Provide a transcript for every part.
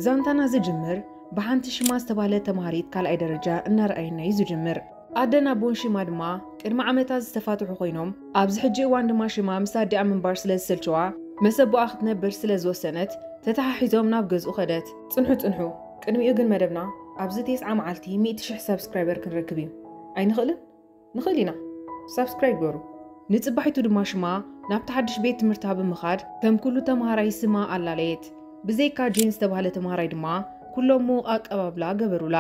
ዛንታና ዝጅምር ብሓንቲ ሽማ ዝተባህለት ተምሃሪት ካልኣይ ደረጃ እናርኣየና እዩ ዝጅምር። ኣደን ኣቦን ሽማ ድማ ቅድሚ ዓመታት ዝተፋትሑ ኮይኖም ኣብዚ ሕጂ እዋን ድማ ሽማ ምስ ኣዲኣ ምንባር ስለ ዝሰልቸዋ መስ ኣቦኣ ክትነብር ስለ ዝወሰነት ተተሓሒዞም ናብ ገዝኡ ከደት። ጽንሑ ጽንሑ ቅድሚኡ ግን መደብና ኣብዚ ቴስዓ መዓልቲ ሚእቲ ሽሕ ሳብስክራይበር ክንረክብ እዩ ኣይንኽእልን? ንኽእል ኢና። ሳብስክራይብ ግበሩ። ንጽባሒቱ ድማ ሽማ ናብቲ ሓድሽ ቤት ትምህርታ ብምኻድ ከም ኩሉ ተመሃራይ ስማ ኣላለየት። ብዘይካ ጄን ዝተባህለ ተመሃራይ ድማ ኩሎም ምዉቕ ኣቀባብላ ገበሩላ።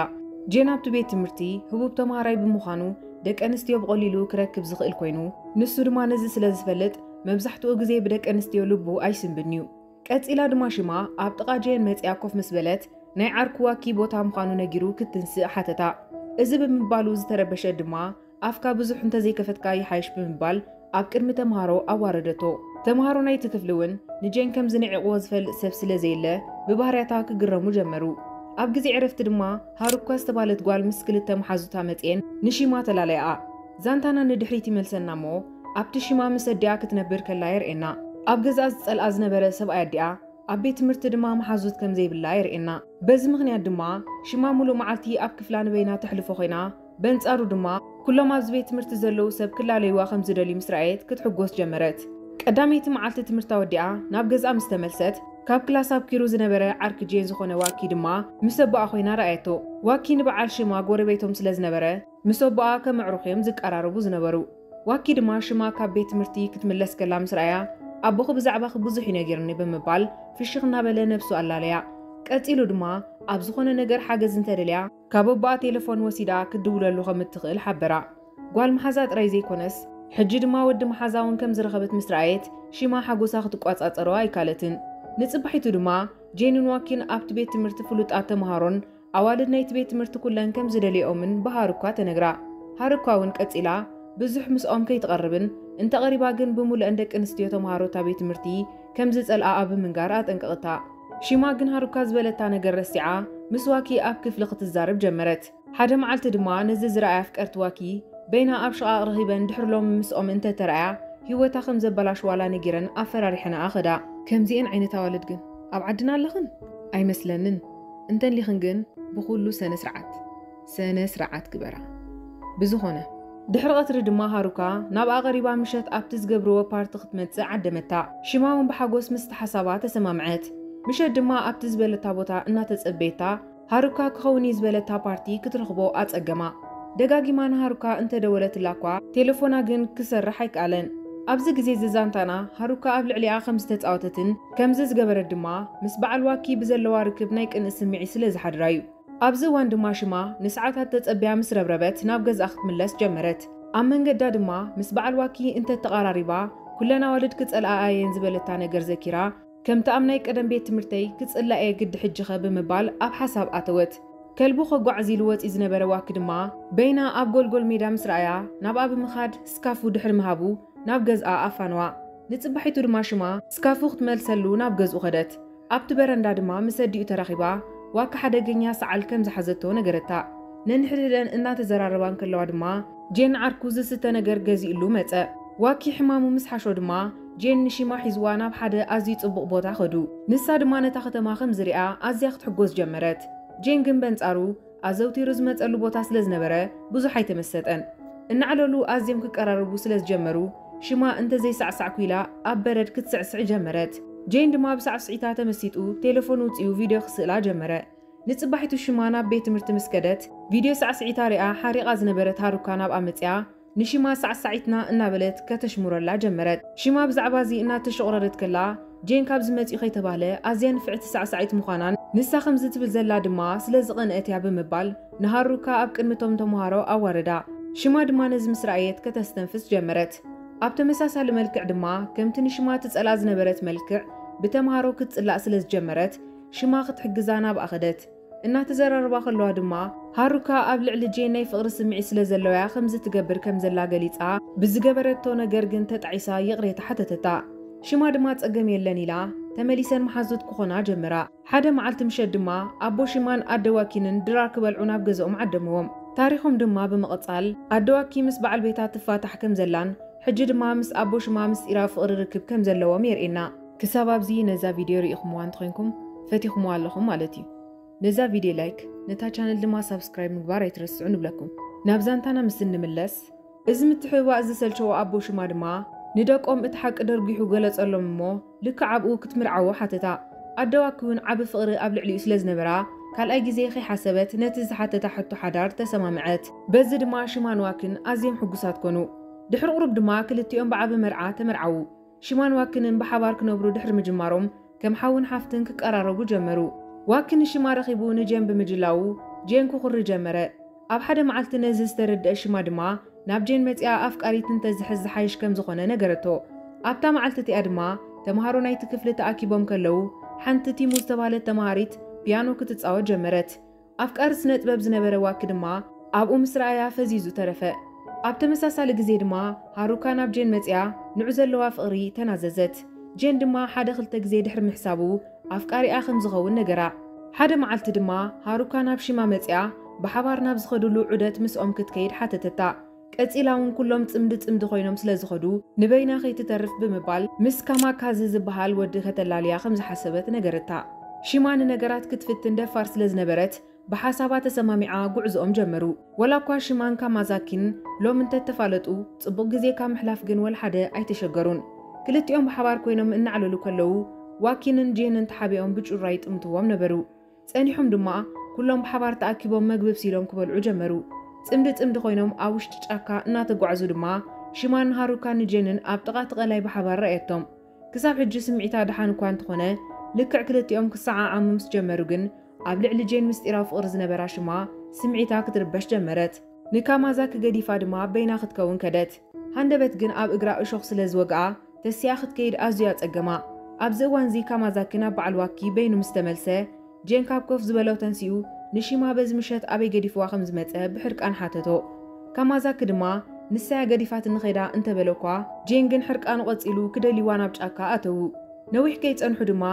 ጄን ኣብቲ ቤት ትምህርቲ ህቡብ ተመሃራይ ብምዃኑ ደቂ ኣንስትዮ ብቐሊሉ ክረክብ ዝኽእል ኮይኑ፣ ንሱ ድማ ነዚ ስለ ዝፈልጥ መብዛሕትኡ ግዜ ብደቂ ኣንስትዮ ልቡ ኣይስንብድን'ዩ። ቀጺላ ድማ ሽማ ኣብ ጥቓ ጀየን መጺኣ ኮፍ ምስ በለት ናይ ዓርኩ ዋኪ ቦታ ምዃኑ ነጊሩ ክትንስእ ሓተታ። እዚ ብምባሉ ዝተረበሸ ድማ ኣፍካ ብዙሕ እንተዘይከፈትካ ይሓይሽ ብምባል ኣብ ቅድሚ ተምሃሮ ኣዋረደቶ። ተምሃሮ ናይቲ ክፍሊ እውን ንጀን ከም ዝንዒቕዎ ዝፈልጥ ሰብ ስለ ዘየለ ብባህርያታ ክግረሙ ጀመሩ። ኣብ ግዜ ዕረፍቲ ድማ ሃሩካ ዝተባለት ጓል ምስ ክልተ መሓዙታ መጺኤን ንሺማ ተላለያኣ። ዛንታና ንድሕሪት ይመልሰና እሞ ኣብቲ ሽማ ምስ ኣዲኣ ክትነብር ከላ የርእየና። ኣብ ገዝኣ ዝጸልኣ ዝነበረ ሰብኣይ ኣዲኣ፣ ኣብ ቤት ትምህርቲ ድማ መሓዙት ከም ዘይብላ የርእየና። በዚ ምኽንያት ድማ ሽማ ምሉእ መዓልቲ ኣብ ክፍላ ንበይና ተሕልፎ ኮይና፣ በንጻሩ ድማ ኩሎም ኣብዚ ቤት ትምህርቲ ዘለዉ ሰብ ክላለዩዋ ከም ዝደልዩ ምስ ረኣየት ክትሕጎስ ጀመረት። ቀዳመይቲ መዓልቲ ትምህርታ ወዲኣ ናብ ገዝኣ ምስ ተመልሰት፣ ካብ ክላስ ኣብኲሩ ዝነበረ ዓርኪ ጄን ዝኾነ ዋኪ ድማ ምስ ኣቦኣ ኮይና ረኣየቶ። ዋኪ ንበዓል ሽማ ጎረቤቶም ስለ ዝነበረ፣ ምስ ኣቦኣ ከም ኣዕሩኽ እዮም ዝቀራረቡ ዝነበሩ። ዋኪ ድማ ሽማ ካብ ቤት ትምህርቲ ክትምለስ ከላ ምስ ረኣያ ኣቦኺ ብዛዕባኺ ብዙሕ እዩ ነጊርኒ ብምባል ፍሽኽ እናበለ ነብሱ ኣላለያ። ቀጺሉ ድማ ኣብ ዝኾነ ነገር ሓገዝ እንተደልያ ካብ ኣቦኣ ቴለፎን ወሲዳ ክትድውለሉ ከም እትኽእል ሓበራ። ጓል መሓዛ ጥራይ ዘይኮነስ ሕጂ ድማ ወዲ መሓዛ እውን ከም ዝረኸበት ምስ ረኣየት ሽማ ሓጎሳ ክትቆጻጸሮ ኣይካለትን። ንጽባሒቱ ድማ ጄንን ዋኪን ኣብቲ ቤት ትምህርቲ ፍሉጣት ተመሃሮን ኣዋልድ ናይቲ ቤት ትምህርቲ ኩለን ከም ዝደልየኦምን ብሃሩኳ ተነግራ። ሃሩኳ እውን ቀጺላ ብዙሕ ምስኦም ከይትቐርብን እንተ ቐሪባ ግን ብምሉእን ደቂ ኣንስትዮ ተመሃሮ እታ ቤት ትምህርቲ ከም ዝጸልኣኣ ብምንጋር ኣጠንቀቕታ። ሺማ ግን ሃሩኳ ዝበለታ ነገር ረሲዓ ምስ ዋኪ ኣብ ክፍሊ ክትዛረብ ጀመረት። ሓደ መዓልቲ ድማ ነዚ ዝረኣያ ኣፍቀርቲ ዋኪ በይና ኣብ ሽቓቕ ረኺበን ድሕሪ ሎሚ ምስኦም እንተ ተራእያ ህይወታ ከም ዘበላሽዋላ ነጊረን ኣፈራሪሐናኣ ከዳ። ከምዚኤን ዓይነት ኣዋልድ ግን ኣብ ዓድና ኣለኽን? ኣይመስለንን። እንተሊኽን ግን ብኹሉ ሰነ ስርዓት ሰነ ስርዓት ግበራ ብዝኾነ። ድሕሪ ቐትሪ ድማ ሃሩካ ናብኣ ቐሪባ ምሸት ኣብቲ ዝገብርዎ ፓርቲ ክትመጽእ ዓደመታ። ሽማ ውን ብሓጎስ ምስቲ ሓሳባ ተሰማምዐት። ምሸት ድማ ኣብቲ ዝበለታ ቦታ እናተጸበየታ ሃሩካ ክኸውን እዩ ዝበለታ ፓርቲ ክትረኽቦ ኣጸገማ። ደጋጊማ ንሃሩካ እንተደወለትላ'ኳ ቴለፎና ግን ክሰርሕ ኣይከኣለን። ኣብዚ ግዜ'ዚ ዛንታና ሃሩካ ኣብ ልዕሊኣ ከምዝተጻወተትን ከምዚ ዝገበረት ድማ ምስ በዓል ዋኪ ብዘለዋ ርክብ ናይ ቅንእ ስምዒት ስለ ዝሓድራ እዩ። ኣብዚ እዋን ድማ ሽማ ንሰዓታት ተጸብያ ምስ ረብረበት ናብ ገዝኣ ክትምለስ ጀመረት። ኣብ መንገዳ ድማ ምስ በዓል ዋኪ እንተ ተቓራሪባ ኩለን ኣዋልድ ክጸልኣኣ እየን ዝበለታ ነገር ዘኪራ ከምቲ ኣብ ናይ ቀደም ቤት ትምህርተይ ክጽላእ እየ ግዲ ሕጂኸ ብምባል ኣብ ሓሳብ ኣተወት። ከልቡ ከጓዕዝ ኢሉ ወጺኡ ዝነበረ ዋኪ ድማ በይና ኣብ ጎልጎል ሜዳ ምስ ረኣያ ናብኣ ብምኻድ ስካፉ ድሕሪ ምሃቡ ናብ ገዝኣ ኣፋነዋ። ንጽባሒቱ ድማ ሽማ ስካፉ ክትመልሰሉ ናብ ገዝኡ ከደት። ኣብቲ በረንዳ ድማ ምስ ኣዲኡ ተራኺባ ዋካ ሓደገኛ ሰዓል ከም ዝሓዘቶ ነገረታ። ነንሕድሕደን እናተዘራረባ እንከለዋ ድማ ጄን ዓርኩ ዝስተ ነገር ገዚኡሉ መጸ። ዋኪ ሕማሙ ምስ ሓሾ ድማ ጄን ንሺማ ሒዝዋ ናብ ሓደ ኣዝዩ ጽቡቕ ቦታ ከዱ። ንሳ ድማ ነታ ከተማ ከም ዝሪኣ ኣዝያ ክትሕጎስ ጀመረት። ጄን ግን በንጻሩ ኣዘውቲሩ ዝመጸሉ ቦታ ስለ ዝነበረ ብዙሕ ኣይተመሰጠን። እናዕለሉ ኣዝዮም ክቀራረቡ ስለ ዝጀመሩ፣ ሽማ እንተ ዘይሳዕሳዕኩ ኢላ ኣብ በረድ ክትስዕስዕ ጀመረት። ጄን ድማ ብሳዕስዒታ ተመሲጡ ቴለፎን ኣውጺኡ ቪድዮ ክስእላ ጀመረ። ንጽባሒቱ ሽማ ናብ ቤት ትምህርቲ ምስ ከደት፣ ቪድዮ ሳዕስዒታ ሪኣ ሓሪቓ ዝነበረት ሃሩካ ናብኣ መጺኣ፣ ንሺማ ሳዕሳዒትና እናበለት ከተሽሙረላ ጀመረት። ሺማ ብዛዕባ እዚ እናተሾቕረረት ከላ፣ ጄን ካብዚ መጺኡ ከይተባህለ ኣዝያ ንፍዕቲ ሳዕሳዒት ምዃናን ንሳ ከምዚ ትብል ዘላ ድማ ስለ ዝቐንኣት እያ ብምባል ንሃሩካ ኣብ ቅድሚ እቶም ተመሃሮ ኣዋረዳ። ሺማ ድማ ነዚ ምስ ረኣየት ከተስተንፍስ ጀመረት። ኣብ ተመሳሳሊ መልክዕ ድማ ከምቲ ንሺማ ትጸልኣ ዝነበረት መልክዕ ብተመሃሮ ክትጽላእ ስለ ዝጀመረት፣ ሺማ ክትሕግዛ ናብኣ ከደት። እናተዘራረባ ከለዋ ድማ፣ ሃሩካ ኣብ ልዕሊ ጄናይ ፍቕሪ ስምዒት ስለ ዘለዋ'ያ ከምዚ ትገብር ከም ዘላ ገሊጻ፣ ብዝገበረቶ ነገር ግን ተጣዒሳ ይቕሬታ ሓተተታ። ሽማ ድማ ጸገም የለን ኢላ፣ ተመሊሰን መሓዙት ክኾና ጀመራ። ሓደ መዓልቲ ምሸት ድማ፣ ኣቦ ሽማን ኣደ ዋኪንን ድራር ክበልዑ ናብ ገዝኦም ዓደምዎም። ታሪኾም ድማ ብምቕጻል፣ ኣደ ዋኪ ምስ በዓል ቤታ ትፋታሕ ከም ዘላን ሕጂ ድማ ምስ ኣቦ ሽማ ምስጢራዊ ፍቕሪ ርክብ ከም ዘለዎም የርእየና። ክሳብ ኣብዚ ነዛ ቪድዮ ርኢኹምዋ እንተኾይንኩም ፈቲኹምዋ ኣለኹም ማለት እዩ። ነዛ ቪድዮ ላይክ ነታ ቻነል ድማ ሳብስክራይብ ምግባር ኣይትረስዑ ንብለኩም። ናብ ዛንታና ምስ እንምለስ እዚ ምትሕብባእ ዝሰልቸዎ ኣቦ ሽማ ድማ ንደቆም እቲ ሓቂ ደርጒሑ ገለጸሎም እሞ ልክዕ ኣብኡ ክትምርዓዎ ሓተታ። ኣደዋኪ እውን ዓቢ ፍቕሪ ኣብ ልዕሊኡ ስለ ዝነበራ ካልኣይ ግዜ ከይሓሰበት ነቲ ዝሓተታ ሕቶ ሓዳር ተሰማምዐት። በዚ ድማ ሽማን ዋኪን ኣዝዮም ሕጉሳት ኮኑ። ድሕሪ ቁሩብ ድማ ክልቲኦም ብዓቢ መርዓ ተመርዓዉ። ሺማን ዋክንን ብሓባር ክነብሩ ድሕሪ ምጅማሮም ከም ሓውን ሓፍትን ክቀራረቡ ጀመሩ። ዋኪ ንሺማ ረኺቡ ንጄን ብምጅላዉ ጄን ክኹሪ ጀመረ። ኣብ ሓደ መዓልቲ ነዚ ዝተረድኣ ሺማ ድማ ናብ ጄን መጺኣ ኣፍቃሪት እንተዝሕዝ ዝሓይሽ ከም ዝኾነ ነገረቶ። ኣብታ መዓልቲ እቲኣ ድማ ተመሃሮ ናይቲ ክፍሊ ተኣኪቦም ከለዉ ሓንቲ ቲሙ ዝተባህለት ተመሃሪት ፒያኖ ክትጻወት ጀመረት። ኣፍቃሪ ስነጥበብ ዝነበረ ዋኪ ድማ ኣብኡ ምስ ረኣያ ፈዚዙ ተረፈ። ኣብ ተመሳሳሊ ግዜ ድማ ሃሩካ ናብ ጄን መጺኣ ንዑ ዘለዋ ፍቕሪ ተናዘዘት። ጄን ድማ ሓደ ክልተ ግዜ ድሕሪ ምሕሳቡ ኣፍቃሪኣ ከም ዝኸውን ነገራ። ሓደ መዓልቲ ድማ ሃሩካ ናብ ሺማ መጺኣ ብሓባር ናብ ዝኸድሉ ዑደት ምስኦም ክትከይድ ሓተተታ። ቀጺላ እውን ኩሎም ጽምዲ ጽምዲ ኮይኖም ስለ ዝኸዱ ንበይና ከይትተርፍ ብምባል ምስ ካማካዝ ዝበሃል ወዲ ከተላልያ ከም ዝሓሰበት ነገረታ። ሺማ ንነገራት ክትፍትን ደፋር ስለ ዝነበረት ብሓሳባ ተሰማሚዓ ጉዕዞኦም ጀመሩ። ዋላኳ ሺማን ካማዛኪን ሎሚ እንተ ተፋለጡ ጽቡቕ ግዜ ካብ ምሕላፍ ግን ወልሓደ ኣይተሸገሩን። ክልቲኦም ብሓባር ኮይኖም እናዕለሉ ከለዉ ዋኪንን ጄንን ተሓቢኦም ብጩራ ይጥምትዎም ነበሩ። ጸኒሖም ድማ ኩሎም ብሓባር ተኣኪቦም መግቢ ኣብሲሎም ክበልዑ ጀመሩ። ጽምዲ ጽምዲ ኮይኖም ኣብ ውሽጢ ጫካ እናተጓዕዙ ድማ ሽማን ሃሩካን ንጀንን ኣብ ጥቓ እቲ ቀላይ ብሓባር ረኣየቶም። ክሳብ ሕጂ ስምዒታ ደሓን እኳ እንተኾነ ልክዕ ክልቲኦም ክሰዓዓሙ ምስ ጀመሩ ግን ኣብ ልዕሊ ጄን ምስጢራዊ ፍቕሪ ዝነበራ ሽማ ስምዒታ ክትርበሽ ጀመረት። ንካማዛኪ ገዲፋ ድማ በይና ክትከውን ከደት። ሃንደበት ግን ኣብ እግራ እሾኽ ስለ ዝወግኣ ተሲኣ ክትከይድ ኣዝዩ ኣጸገማ። ኣብዚ እዋንዚ ካማዛኪ ናብ በዓል ዋኪ በይኑ ምስ ተመልሰ፣ ጄን ካብ ኮፍ ዝበሎ ተንሲኡ ንሺማ በዚ ምሸት ኣበይ ገዲፍዋ ከም ዝመጸ ብሕርቃን ሓተቶ። ካማዛኪ ድማ ንሳ'ያ ገዲፋትኒ ከይዳ እንተ በለ'ኳ፣ ጄን ግን ሕርቃኑ ቀጺሉ ክደልይዋ ናብ ጫካ ኣተዉ። ነዊሕ ከይጸንሑ ድማ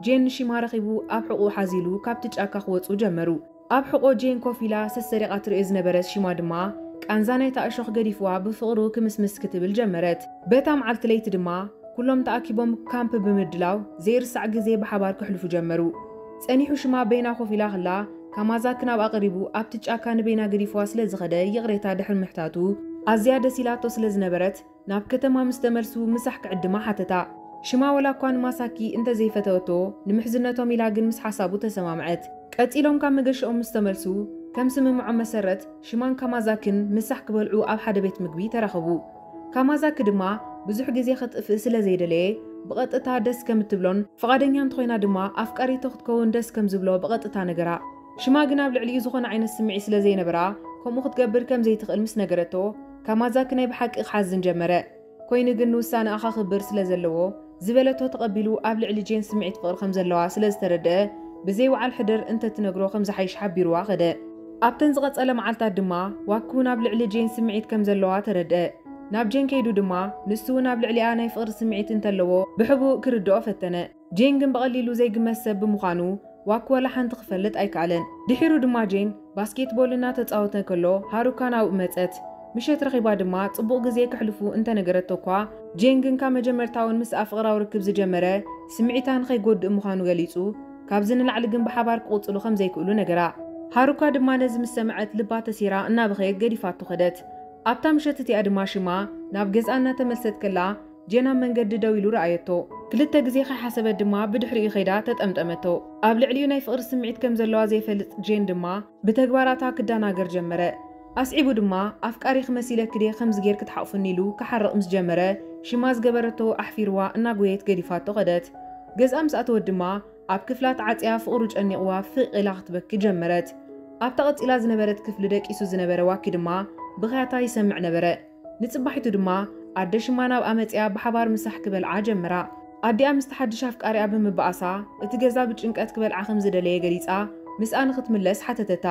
ጄን ንሺማ ረኺቡ ኣብ ሕቑኡ ሓዚሉ ካብቲ ጫካ ክወጹ ጀመሩ። ኣብ ሕቖ ጄን ኮፍ ኢላ ሰሰሪቓ ትርእዮ ዝነበረት ሽማ ድማ ቃንዛ ናይታ እሾኽ ገዲፍዋ ብፍቕሩ ክምስምስ ክትብል ጀመረት። በታ መዓልቲ ለይቲ ድማ ኩሎም ተኣኪቦም ካምፕ ብምድላው ዘይርሳዕ ግዜ ብሓባር ከሕልፉ ጀመሩ። ጸኒሑ ሽማ በይና ኮፍ ኢላ ከላ ካማዛኪ ናብኣ ቀሪቡ ኣብቲ ጫካ ንበይና ገዲፍዋ ስለ ዝኸደ ይቕሬታ ድሕሪ ምሕታቱ ኣዝያ ደስ ኢላቶ ስለ ዝነበረት ናብ ከተማ ምስ ተመልሱ ምሳሕ ክዕድማ ሓተታ። ሽማ ዋላኳ ንማሳኪ እንተ ዘይፈተወቶ፣ ንምሕዝነቶም ኢላ ግን ምስ ሓሳቡ ተሰማምዐት። ቀጺሎም ካብ መገሻኦም ምስ ተመልሱ፣ ከም ስምምዖም መሰረት ሽማን ካማዛክን ምሳሕ ክበልዑ ኣብ ሓደ ቤት ምግቢ ተራኸቡ። ካማዛኪ ድማ ብዙሕ ግዜ ከጥፍእ ስለ ዘይደለየ ብቐጥታ ደስ ከም እትብሎን ፍቓደኛ እንተኾይና ድማ ኣፍቃሪቶ ክትከውን ደስ ከም ዝብሎ ብቐጥታ ነገራ። ሽማ ግን ኣብ ልዕሊኡ ዝኾነ ዓይነት ስምዒት ስለ ዘይነበራ ከምኡ ክትገብር ከም ዘይትኽእል ምስ ነገረቶ፣ ካማዛኪ ናይ ብሓቂ ክሓዝን ጀመረ። ኰይኑ ግን ንውሳነኣ ከኽብር ስለ ዘለዎ፣ ዝበለቶ ተቐቢሉ ኣብ ልዕሊ ጄን ስምዒት ፍቕሪ ከም ዘለዋ ስለ ዝተረድኣ፣ ብዘይ ውዓል ሕደር እንተ ትነግሮ ከም ዝሓይሽ ሓቢሩዋ ከደ። ኣብተን ዝቐጸለ መዓልታት ድማ ዋኪ'ውን ኣብ ልዕሊ ጄን ስምዒት ከም ዘለዋ ተረድኣ። ናብ ጄን ከይዱ ድማ ንሱ'ውን ኣብ ልዕሊኣ ናይ ፍቕሪ ስምዒት እንተለዎ ብሕቡእ ክርድኦ ፈተነ። ጄን ግን ብቐሊሉ ዘይግመት ሰብ ብምዃኑ ዋክ ወላ ሓንቲ ክፈልጥ ኣይከኣለን። ድሒሩ ድማ ጄን ባስኬትቦል እናተጻወተ ከሎ ሃሩካ ናብኡ መጸት። ምሸት ረኺባ ድማ ጽቡቕ ግዜ ከሕልፉ እንተነገረቶ'ኳ፣ ጄን ግን ካብ መጀመርታ'ውን ምስኣ ፍቕራዊ ርክብ ዝጀመረ ስምዒታ ንኸይጎድእ ምዃኑ ገሊጹ፣ ካብዚ ንላዕሊ ግን ብሓባር ክቕጽሉ ከም ዘይክእሉ ነገራ። ሃሩካ ድማ ነዚ ምስ ሰምዐት ልባ ተሴራ እናበኸየት ገዲፋቶ ከደት። ኣብታ ምሸት እቲኣ ድማ ሽማ ናብ ገዝኣ እናተመልሰት ከላ፣ ጄን ኣብ መንገዲ ደው ኢሉ ረኣየቶ። ክልተ ግዜ ከይሓሰበት ድማ ብድሕሪኡ ከይዳ ተጠምጠመቶ። ኣብ ልዕሊኡ ናይ ፍቕሪ ስምዒት ከም ዘለዋ ዘይፈልጥ ጄን ድማ ብተግባራታ ክደናገር ጀመረ። ኣስዒቡ ድማ ኣፍቃሪኺ መሲለኪ ድየ ከምዚ ጌርኪ ትሓቑፍኒ ኢሉ ክሓርቕ ምስ ጀመረ ሽማ ዝገበረቶ ኣሕፊርዋ እናጎየየት ገዲፋቶ ከደት። ገዝኣ ምስ ኣተወት ድማ ኣብ ክፍላ ተዓጽያ ፍቕሩ ጨኒቕዋ ፍቕ ኢላ ክትበኪ ጀመረት። ኣብታ ቀጺላ ዝነበረት ክፍሊ ደቂሱ ዝነበረ ዋኪ ድማ ብኽያታ ይሰምዕ ነበረ። ንጽባሒቱ ድማ ኣደ ሽማ ናብኣ መጺኣ ብሓባር ምሳሕ ክበልዓ ጀምራ። ኣዲኣ ምስቲ ሓድሽ ኣፍቃሪኣ ብምብኣሳ እቲ ገዛ ብጭንቀት ክበልዓ ከም ዝደለየ ገሊጻ ምስኣ ንኽትምለስ ሓተተታ።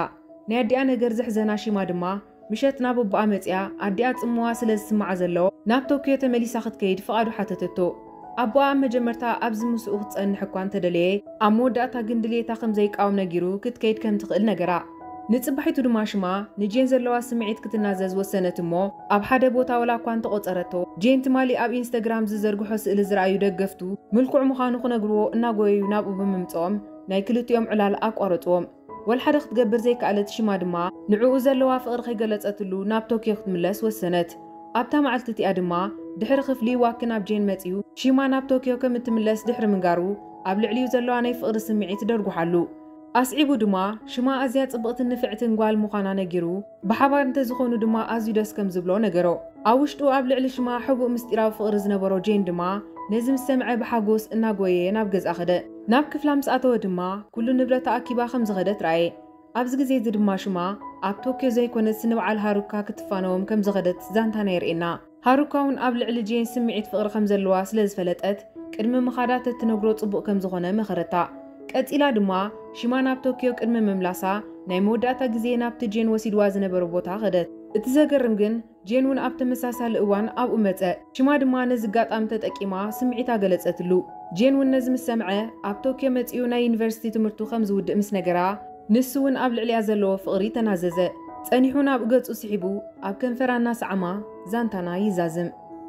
ናይ ኣዲኣ ነገር ዘሕዘና ሺማ ድማ ምሸት ናብ ኣቦኣ መጺኣ ኣዲኣ ጽምዋ ስለ ዝስምዓ ዘሎ ናብ ቶክዮ ተመሊሳ ክትከይድ ፍቓዱ ሓተተቶ። ኣቦኣ ኣብ መጀመርታ ኣብዚ ምስኡ ክትጸንሕ እኳ እንተ ደለየ፣ ኣብ መወዳእታ ግን ድልየታ ከም ዘይቃወም ነጊሩ ክትከይድ ከም ትኽእል ነገራ። ንጽባሒቱ ድማ ሽማ ንጄን ዘለዋ ስምዒት ክትናዘዝ ወሰነት እሞ ኣብ ሓደ ቦታ ወላ እኳ እንተ ቆጸረቶ፣ ጄን ትማሊ ኣብ ኢንስተግራም ዝዘርግሖ ስእሊ ዝረኣዩ ደገፍቱ ምልኩዕ ምዃኑ ክነግርዎ እናጎየዩ ናብኡ ብምምጽኦም ናይ ክልቲኦም ዕላል ኣቋረጽዎ። ወልሓደ ክትገብር ዘይከኣለት፣ ሽማ ድማ ንዕኡ ዘለዋ ፍቕሪ ከይገለጸትሉ ናብ ቶክዮ ክትምለስ ወሰነት። ኣብታ መዓልቲ እቲኣ ድማ ድሕሪ ክፍሊ ዋኪ ናብ ጄን መጺኡ ሺማ ናብ ቶክዮ ከም እትምለስ ድሕሪ ምንጋሩ ኣብ ልዕሊኡ ዘለዋ ናይ ፍቕሪ ስምዒት ደርጉሓሉ። ኣስዒቡ ድማ ሽማ ኣዝያ ጽብቕትን ንፍዕትን ጓል ምዃና ነጊሩ፣ ብሓባር እንተዝኾኑ ድማ ኣዝዩ ደስ ከም ዝብሎ ነገሮ። ኣብ ውሽጡ ኣብ ልዕሊ ሽማ ሕቡእ ምስጢራዊ ፍቕሪ ዝነበሮ ጄን ድማ ነዚ ምስ ሰምዐ ብሓጎስ እናጎየየ ናብ ገዝኣ ከደ። ናብ ክፍላ ምስ ኣተወ ድማ ኩሉ ንብረታ ኣኪባ ከም ዝኸደት ረኣየ። ኣብዚ ግዜ እዚ ድማ ሽማ ኣብ ቶክዮ ዘይኮነትስ ንበዓል ሃሩካ ክትፋነዎም ከም ዝኸደት ዛንታና የርእየና። ሃሩካ'ውን ኣብ ልዕሊ ጄን ስምዒት ፍቕሪ ከም ዘለዋ ስለ ዝፈለጠት፣ ቅድሚ ምኻዳ ተትነግሮ ጽቡቕ ከም ዝዀነ መኸረታ። ቀጺላ ድማ፣ ሽማ ናብ ቶክዮ ቅድሚ ምምላሳ፣ ናይ መወዳእታ ግዜ ናብቲ ጄን ወሲድዋ ዝነበረ ቦታ ኸደት። እቲ ዘገርም ግን፣ ጄን'ውን ኣብ ተመሳሳሊ እዋን ኣብኡ መጸ። ሽማ ድማ ነዚ ኣጋጣሚ ተጠቂማ ስምዒታ ገለጸትሉ። ጄን'ውን ነዚ ምስ ሰምዐ፣ ኣብ ቶክዮ መጺኡ ናይ ዩኒቨርሲቲ ትምህርቱ ከም ዝውድእ ምስ ነገራ፣ ንሱ'ውን ኣብ ልዕሊኣ ዘለዎ ፍቕሪ ተናዘዘ። ጸኒሑ ናብ ገጹ ስሒቡ ኣብ ከንፈራ እናሰዓማ ዛንታና ይዛዝም።